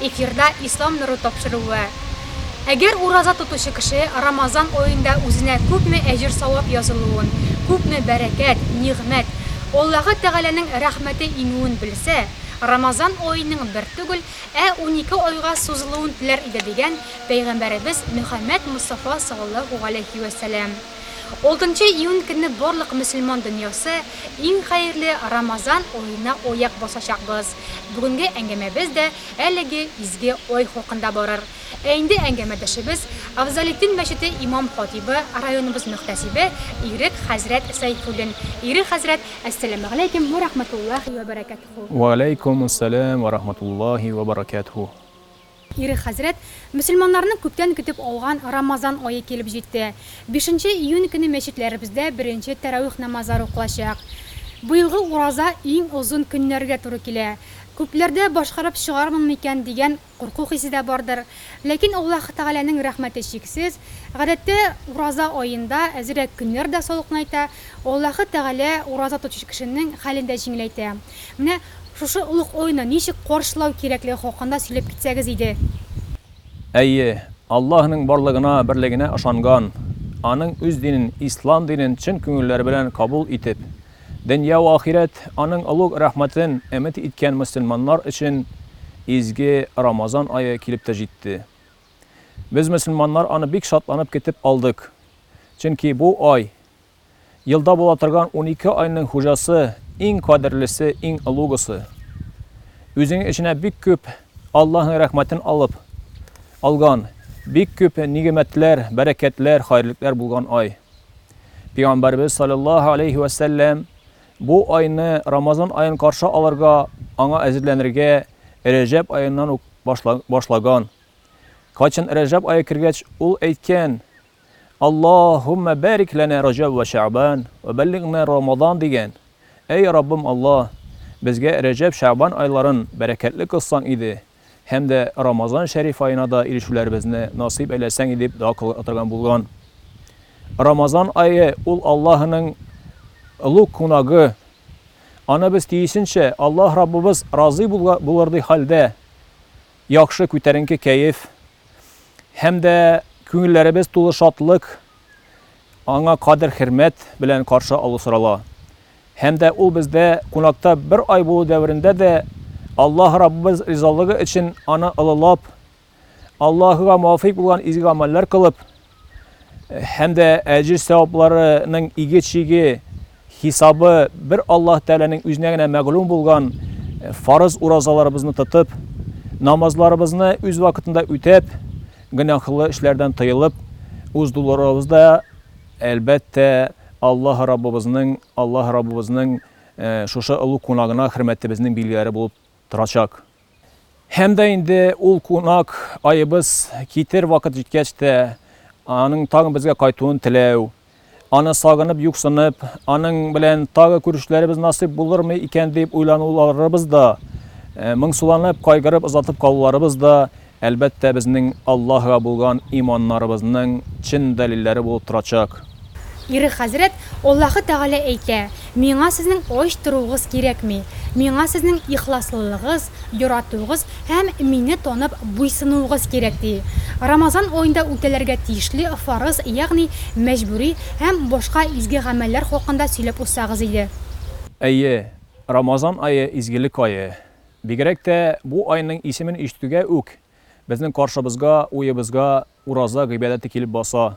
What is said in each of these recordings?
Эфирда Ислам нуры тапшыруы. Әгәр ураза тотучы кеше Рамазан аенда үзенә күпме әҗер-савап язылуын, күпме бәрәкәт, нигъмәт, Аллаһы Тәгаләнең рәхмәте иңүен белсә, Рамазан аеның бер түгел, ә унике айга сузылуын теләр иде дигән Пәйгамбәребез Мөхәммәд Мостафа саллаллаһу галәйһи вә сәлам. Алтынчы июнь көнне барлык мөселман дөньясы иң хәерле Рамазан аена аяк басачакбыз. Бүгенге әңгәмәбез дә әлеге изге ай хакында барыр. Ә инде әңгәмәдәшебез, Афзалетдин мәчете имам-хатыйбы, районыбыз мөхтәсибе Ирек хәзрәт Сәйфуллин. Ирек хәзрәт, әссәламегаләйкем вә рахмәтуллаһи вә бәрәкәтһү! Вә аләйкүмүссәлам вә рахмәтуллаһи вә бәрәкәтһү! Ире хәзрәт, Мөселманнарның күптән көтеп алган Рамазан ае килеп җитте. Бишенче июнь көне мәчетләребездә беренче тәравих намазлары укылачак. Быелгы ураза иң озын көннәргә туры килә. Күпләрдә башкарып чыгармын микән дигән курку хисе дә бардыр. Ләкин Аллаһ Тәгаләнең рәхмәте чиксез. Гадәттә, ураза аенда әзрәк көннәр дә салкынайта. Аллаһы Тәгалә ураза тотучы кешенең хәлен дә җиңеләйтә. Менә шушы олуг ойны ничек каршылау кирәклеге хакында сөйләп китсәгез иде. Әйе, Аллаһының барлыгына, берлегенә ышанган, Аның үз динен, Ислам динен чын күңелләре белән кабул итеп, дөнья вә ахирәт Аның олуг рәхмәтен өмет иткән мөселманнар өчен изге Рамазан ае килеп тә җитте. Без мөселманнар аны бик шатланып көтеп алдык, чөнки бу ай, Елда була торган унике айның хуҗасы, иң кадерлесе, иң олугысы. Үзенең эченә бик күп Аллаһның рәхмәтен алып алган, бик күп нигъмәтләр, бәрәкәтләр, хәерлекләр булган ай. Пигамбәрбез салләллаһу алейһи вә сәлләм бу айны, Рамазан аен каршы алырга, аңа әзерләнергә Рәҗәб аеннан ук башлаган. Кайчан Рәҗәб ае кергәч, ул әйткән, Аллаһуммә бәрик ләнә Раҗәб вә Шәгъбан вә бәллигънә Рамазан дигән. Әй Раббым Аллаһ, безгә Рәҗәб, Шәгъбан айларын бәрәкәтле кылсаң иде һәм дә Рамазан шәриф аена да ирешүләребезне насыйп әйләсәң иде дип дога кылырга торган булган. Рамазан ае, ул Аллаһының олуг кунагы. Аны без тиешенчә, Аллаһ Раббыбыз разый булырдай хәлдә, Яхшы, күтәренке кәеф һәм дә күңелләребез тулы шатлык, аңа кадер-хөрмәт белән каршы алу сорала. Һәм дә ул бездә кунакта бер ай булу дәверендә дә Аллаһ Раббыбыз ризалыгы өчен аны олылап, Аллаһыга муафыйк булган изге гамәлләр кылып, һәм дә әҗер сәвапларының иге чиге хисабы бер Аллаһ Тәгаләнең үзенә генә мәгълүм булган фарыз уразаларыбызны тотып, намазларыбызны үз вакытында үтәп, гөнаһлы эшләрдән тыелып, үз дуларыбыз да, әлбәттә, Аллаһ Раббыбызның, Аллаһ Раббыбызның шушы олуг кунагына хөрмәтебезнең билгеләре булып торачак. Һәм дә инде ул кунак аебыз китер вакыт җиткәч тә, аның тагын безгә кайтуын теләү, аны сагынып, юксынып, аның белән тагы күрешүләребез насыйп булырмы икән дип уйлануларыбыз да, моңсуланып, кайгырып озатып калуларыбыз да, әлбәттә, безнең Аллаһыга булган иманнарыбызның чын дәлилләре булып торачак. Ире хәзрәт, Аллаһы Тәгалә әйтә, Миңа сезнең ач торуыгыз кирәкми. Миңа сезнең ихласлылыгыз, яратуыгыз һәм мине танып буйсынуыгыз кирәк, ди. Рамазан аенда үтәләргә тиешле фарыз, ягъни мәҗбүри һәм башка изге гамәлләр хакында сөйләп узсагыз иде. Әйе, Рамазан ае, изгелек ае. Бигрәк тә бу айның исемен ишетүгә үк, безнең каршыбызга, уебызга Ураза гыйбадәте килеп баса.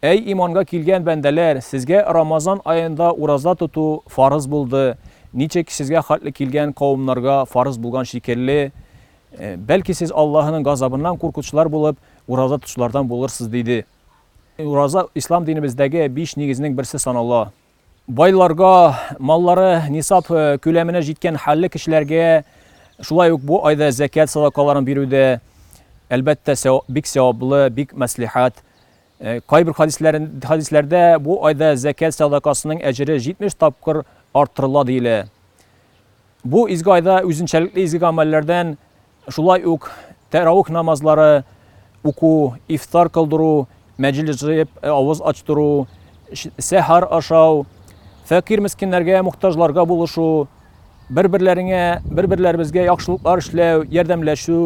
Әй иманга килгән бәндәләр, сезгә Рамазан аенда ураза тоту фарыз булды, ничек сезгә хәтле килгән кавымнарга фарыз булган шикелле, бәлки сез Аллаһының газабыннан куркучылар булып, ураза тотучылардан булырсыз, диде. Ураза Ислам динебездәге биш нигезнең берсе санала. Байларга, маллары нисап күләменә җиткән хәлле кешеләргә шулай ук бу айда зәкят садакаларын бирү дә, әлбәттә, бик сәваплы, бик мәслихәт. Кайбер хәдисләрдә бу айда зәкят садакасының әҗере 70 тапкыр арттырыла диелә. Бу изге айда үзенчәлекле изге гамәлләрдән Шулай ук тәравих намазлары уку, ифтар кылдыру, мәҗлес җыеп авыз ачтыру, сәхәр ашау, фәкыйрь-мескеннәргә, мохтаҗларга булышу, бер-берләреңә, бер-берләребезгә яхшылыклар эшләү, ярдәмләшү,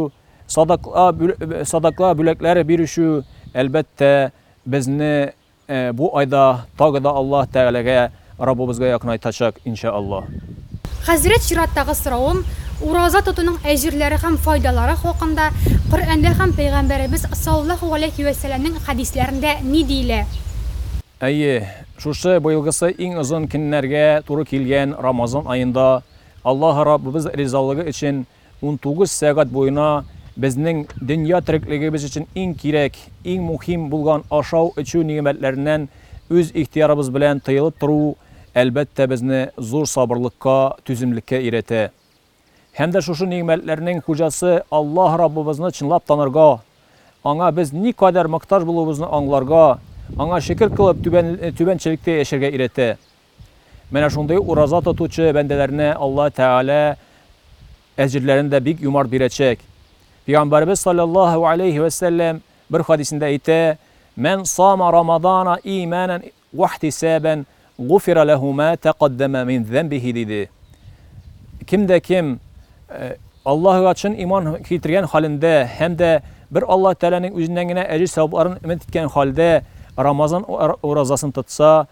садакла бүләкләр бирүчү, әлбәттә, безне Бу айда тагы да Аллаһ Тәгаләгә, Раббыбызга якынайтачак, иншәАллаһ. Хәзрәт чираттагы соравым, ураза тотуның әҗерләре һәм файдалары хакында Коръәндә һәм Пәйгамбәребез саллаллаһу галәйһи вә сәләмнең хәдисләрендә ни диелә? Әйе, шушы быелгысы иң озын көннәргә туры килгән Рамазан аенда Аллаһ Раббыбыз ризалыгы өчен Унтугыз сәгать буена безнең дөнья тереклегебез өчен иң кирәк, иң мухим булган ашау-эчү нигъмәтләреннән үз ихтыярыбыз белән тыелып тору, әлбәттә, безне зур сабырлыкка, түземлеккә өйрәтә. Һәм дә шушы нигъмәтләрнең хуҗасы Аллаһ Раббыбызны чынлап танырга, Аңа без никадәр мохтаҗ булуыбызны аңларга, Аңа шөкер кылып, түбәнчелектә яшәргә өйрәтә. Менә шундый ураза тотучы бәндәләренә Алла Тәгалә әҗерләрен дә бик юмарт бирәчәк. Пәйгамбәребез салләллаһу галәйһи вә сәлләм бер хәдисендә әйтә, Мән сама рамадана иманән вәхтисәбән гуфира ләһу мә тәкаддәмә мин зәмбихи, диде. Кем дә кем Аллаһыга чын иман китергән хәлендә һәм дә бер Алла Тәгаләнең үзеннән генә әҗер-савапларын өмет иткән хәлдә Рамазан уразасын тотса,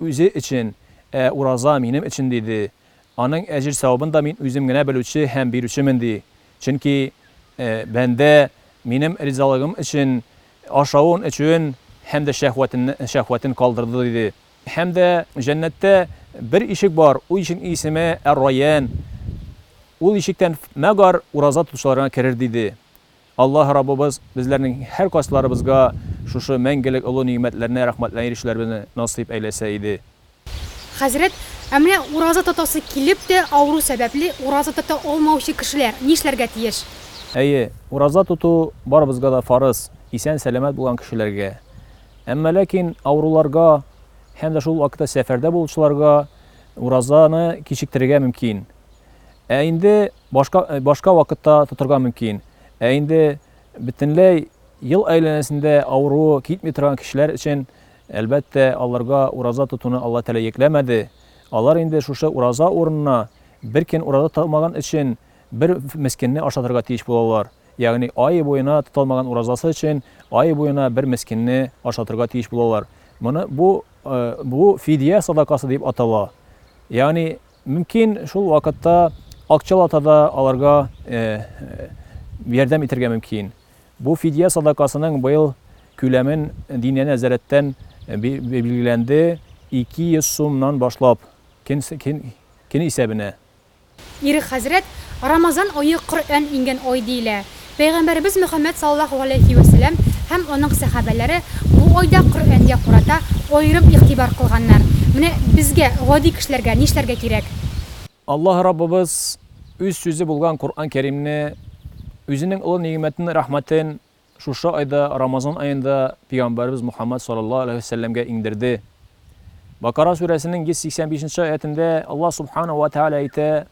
Үзе өчен, ә ураза минем өчен, диде. Аның әҗер-савабын да мин үзем генә белүче һәм бирүчемен, ди. Чөнки бәндә минем ризалыгым өчен ашавын, эчүен һәм дә шәһвәтен калдырды, диде. Һәм дә җәннәттә бер ишек бар, ул ишекнең исеме әр-Райян, ул ишектән мәгар ураза тотучылар гына керер, диде. Аллаһ Раббыбыз безләрнең һәркайсыларыбызга шушы мәңгелек олы нигъмәтләренә рәхмәтләнә ирешүләребезне насыйп әйләсә иде. Хәзрәт, ә менә ураза тотасы килеп тә, авыру сәбәпле, ураза тота алмаучы кешеләр нишләргә тиеш? Әйе, ураза тоту барыбызга да фарыз, исән-сәламәт булган кешеләргә. Әмма ләкин авыруларга һәм дә шул вакытта сәфәрдә булучыларга уразаны кичектерергә мөмкин. Ә инде Башка башка вакытта тотырга мөмкин. Ә инде бөтенләй ел әйләнәсендә авыруы китми торган кешеләр өчен, әлбәттә, аларга ураза тотуны Алла Тәгалә йөкләмәде. Алар инде шушы ураза урынына бер көн ураза тоталмаган өчен бер мескенне ашатырга тиеш булалар. Ягъни ай буена тоталмаган уразасы өчен ай буена бер мескенне ашатырга тиеш булалар. Моны бу бу фидия садакасы дип атала. Ягъни Мөмкин, шул вакытта акчалата да аларга ярдәм итәргә мөмкин. Бу фидия садакасының быел күләмен диния нәзарәттән билгеләнде, 200 сумнан башлап, көн исәбенә. Ирек хәзрәт, Рамазан ае Коръән иңгән ай диелә. Пәйгамбәребез Мөхәммәд саллаллаһу галәйһи вә сәлам һәм аның сәхабәләре бу айда Коръәнгә карата аерым игътибар кылганнар. Менә безгә, гади кешеләргә, нишләргә кирәк? Аллаһ Раббыбыз Үз сүзе булган Коръән Кәримне, Үзенең олы нигъмәтен, рәхмәтен шушы айда, Рамазан аенда пөйгамбәребез Мөхәммәд саллаллаһу галәйһи вә сәлламгә иңдерде. Бакара сүрәсенең 185 нче аятендә Аллаһ Субхана ва Тәгалә әйтә,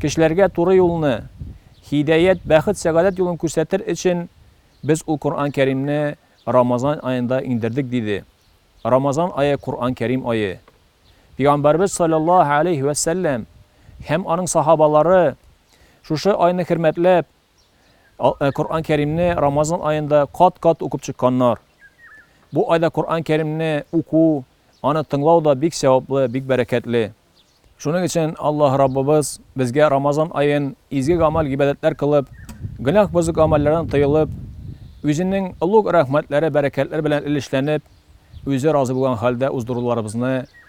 Кешеләргә туры юлны, һидәят, бәхет, сәгадәт юлын күрсәтер өчен Без ул Коръән Кәримне Рамазан аенда иңдердек, диде. Рамазан ае Коръән Кәрим ае. Пигамбәрбез салләллаһу гәләйһи вә сәлләм һәм аның сахабалары шушы айны хөрмәтләп, Ә Коръән Кәримне Рамазан аенда кат-кат укып чыкканнар. Бу айда Коръән Кәримне уку, аны тыңлау да бик сәваплы, бик бәрәкәтле. Шуның өчен Аллаһ Раббыбыз безгә Рамазан аен изге гамәл-гыйбадәтләр кылып, гөнаһ бозык гамәлләрдән тыелып, Үзенең олуг рәхмәтләре, бәрәкәтләре белән өлешләнеп, Үзе разый булган хәлдә уздыруларыбызны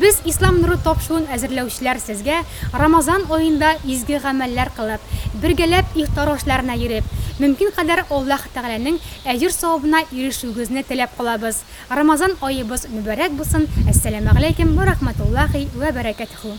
Без, Ислам нуры тапшуын әзерләүчеләр сезгә Рамазан аенда изге гамәлләр кылып, бергәләп ифтар ашларына йөреп, мөмкин кадәр Аллаһ Тәгаләнең әҗер-савабына ирешүегезне теләп калабыз. Рамазан аебыз мөбарәк булсын, Әссәламәгъләйкем вә рахмәтуллаһи вә бәрәкәтһү.